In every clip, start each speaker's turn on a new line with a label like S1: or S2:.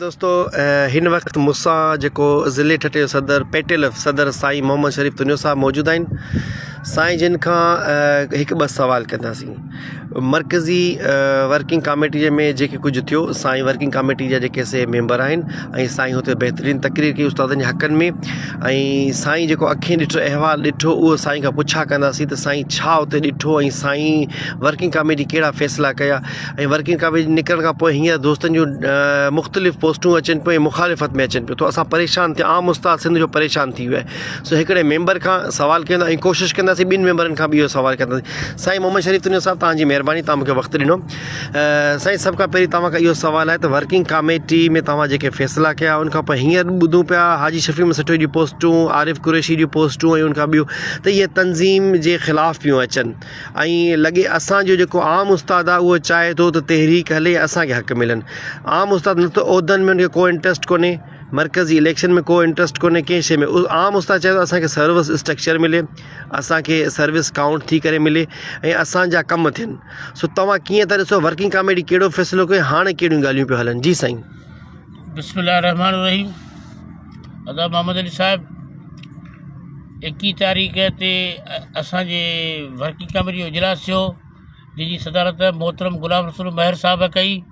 S1: دوستو هن وقت مصان جيڪو ضلع ٺٽي جو صدر پيٽل صدر سائين محمد شريف تنيو صاحب موجود آهن سائين جن کان هڪ ٻه سوال ڪنداسين مرڪزي ورڪنگ ڪاميٽيء ۾ جيڪي ڪجهه ٿيو سائين ورڪنگ ڪاميٽي جا جيڪي سي ميمبر آهن ۽ سائين هتي بهترين تقرير ڪئي استادن جي حقن ۾ ۽ سائين جيڪو اکين ڏٺو احوال ڏٺو اهو سائين کان پڇا ڪنداسين ته سائين ڇا اتي ڏٺو ۽ سائين ورڪنگ ڪاميٽي ڪهڙا فيصلا ڪيا ۽ ورڪنگ ڪاميٽي نڪرڻ کان پوء هينئر دوستن جون مختلف پوسٽون اچن پيون ۽ مخالفت ۾ اچن پيون ٿو اسان پريشان ٿيا عام استاد سنڌ جو پريشان ٿي ويو آهي سو هڪڙي ميمبر کان سوال ڪيو ۽ ڪوشش ڪنداسين ٻن ميمبرن کان به اهو سوال ڪنداسين سائين محمد شريف تنيو صاحب توهان جي مهرباني توهان مونکي وقت ڏنو سائين سڀ کان پهرين توهان کان اهو سوال آهي ته ورڪنگ ڪاميٽي ۾ توهان جيڪي فيصلا ڪيا ان کان پوء هينئر ٻڌون پيا حاجي شفيع احمد سٺيو جون پوسٽون عارف قريشي جون پوسٽون ۽ ان کان ٻيون ته اهي تنظيم جي خلاف پيون اچن ۽ لڳي اسان جو جيڪو عام استاد آهي اهو چاهي ٿو ته تحريڪ هلي اسان کي حق ملن عام استاد نه ته عهدن ۾ ان کي ڪو انٽرسٽ ڪونهي مرڪزي اليڪشن ۾ ڪو انٽرسٽ ڪونهي ڪنهن شيء ۾ عام استاد چاهي ٿو اسانکي سروس اسٽرڪچر ملي اسانکي سروس ڪائونٽ ٿي ڪري ملي ۽ اسانجا ڪم ٿين سو توهان ڪيئن ٿا ڏسو ورڪنگ ڪاميٽي ڪهڙو فيصلو ڪيو هاڻي ڪهڙيون ڳالهيون پيو هلن جي سائين بسم الله الرحمن
S2: الرحيم ادا محمد علي صاحب ايڪيهه تاريخ تي اسانجي ورڪنگ ڪاميٽي جو اجلاس ٿيو جنهنجي صدارت محترم غلام رسول مهر صاحب ڪئي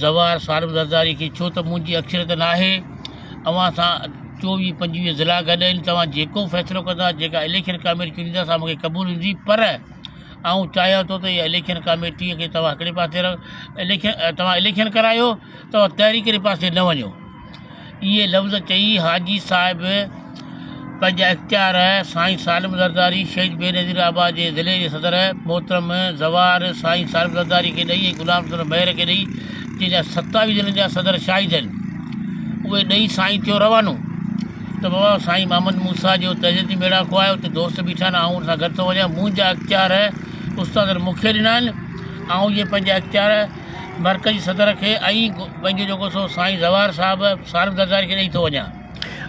S2: زوار سالم زرداري کي ڇو ته منهنجي اڪثريت ناهي اوهان سان چوويهه پنجويهه ضلعا گڏ آهن توهان جيڪو به فيصلو ڪندا جيڪا اليڪشن ڪاميٽي چونڊيندا سا مونکي قبول هوندي پر آئون چاهيان ٿو ته اها اليڪشن ڪاميٽي کي توهان هڪڙي پاسي رک اليڪشن توهان اليڪشن ڪرايو توهان تحريڪ واري پاسي نه وڃو اهي لفظ چئي حاجي صاحب پنهنجا اختيار سائين سالم زرداري شهيد بينظير آباد جي ضلعي جي صدر محترم زوار سائين سالم زرداري کي ڏئي ۽ غلام رسول مهر کي ڏئي جنهن جا ستاويهه ضلعن جا صدر شاهد آهن اهي ڏئي سائين ٿيو روانو ته بابا سائين محمد موسا جو تهذيبي ميڙا کوايو اتي دوست بيٺا آهن آئون ان سان گڏ ٿو وڃان منهنجا اختيار استادن مون کي ڏنا آهن آئون جي پنهنجا اختيار مرڪزي صدر کي ۽ پنهنجو جيڪو سو سائين زوار صاحب صارف زرداري کي ڏئي ٿو وڃان.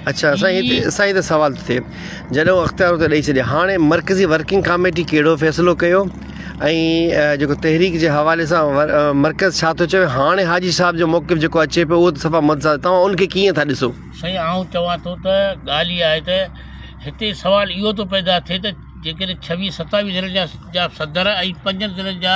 S2: اڇا سائين
S1: هتي سائين هتي سوال ٿو ٿئي جڏهن هو اختيار اتي ڏئي ڇڏيا هاڻي مرڪزي ورڪنگ ڪاميٽي ڪهڙو فيصلو ڪيو ۽ جيڪو تحريڪ جي حوالي سان مرڪز ڇا ٿو چوي هاڻي حاجي صاحب جو موقف جيڪو اچي پيو اهو ته صفا متضاد توهان ان کي ڪيئن ٿا ڏسو. سائين آئون چوان
S2: ٿو ته ڳالهه اها آهي ته هتي سوال اهو ٿو پيدا ٿئي ته جيڪڏهن ڇويهه ستاويهه ضلعن جا جا صدر ۽ پنجن ضلعن جا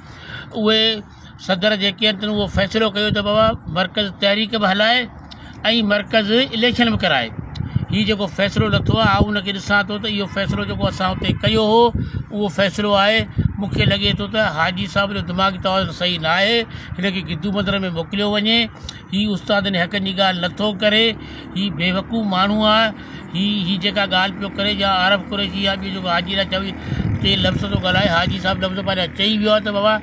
S2: اهي صدر جيڪي آهن تن اهو فيصلو ڪيو ته بابا مرڪز تحريڪ به هلائي ۽ مرڪز اليڪشن به ڪرائي هي جيڪو فيصلو لٿو آهي آئون ان کي ڏسان ٿو ته اهو فيصلو جيڪو اسان اتي ڪيو هو اهو فيصلو آهي مونکي لڳي ٿو ته حاجي صاحب جو دماغي توازن صحيح ناهي هن کي گدو بندر ۾ موڪليو وڃي هي استادن حقن جي ڳالهه نه ٿو ڪري هي بيوقوف ماڻهو آ هي هي جيڪا ڳالهه پيو ڪري جا عارف قريشي يا ٻيو جيڪو حاجي لاء چوي چئي لفظ ٿو ڳالهائي حاجي صاحب لفظ پنهنجا چئي ويو آ ته بابا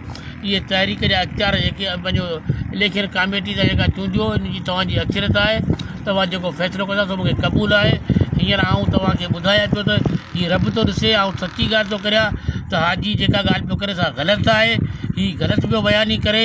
S2: اهي تحريڪ جا اختيار جيڪي پنهنجو اليڪشن ڪاميٽي سان جيڪا چونڊيو ان جي توهان جي اڪثريت آهي توهان جيڪو فيصلو ڪندا سو مونکي قبول آهي هينئر آئون توهان کي ٻڌايان پيو ته هي رب ٿو ڏسي آئون سچي ڳالهه ٿو ڪريان ته حاجي جيڪا ڳالهه پيو ڪري سا غلط آهي هي غلط پيو بياني ڪري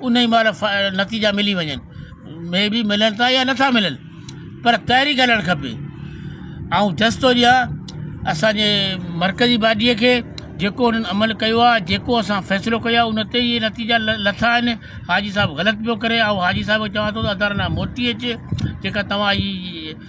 S2: ان ئي مهل نتيجا ملي وڃن مي بي ملن ٿا يا نٿا ملن پر تحريڪ هلڻ کپي آئون جس ٿو ڏيان اسانجي مرڪزي باڊيء کي جيڪو انهن عمل ڪيو آهي جيڪو اسان فيصلو ڪيو آهي ان تي ئي نتيجا لٿا آهن حاجي صاحب غلط پيو ڪري آئون حاجي صاحب کي چوان ٿو ته ادارن ڏانهن موٽي اچ جيڪا توهان جي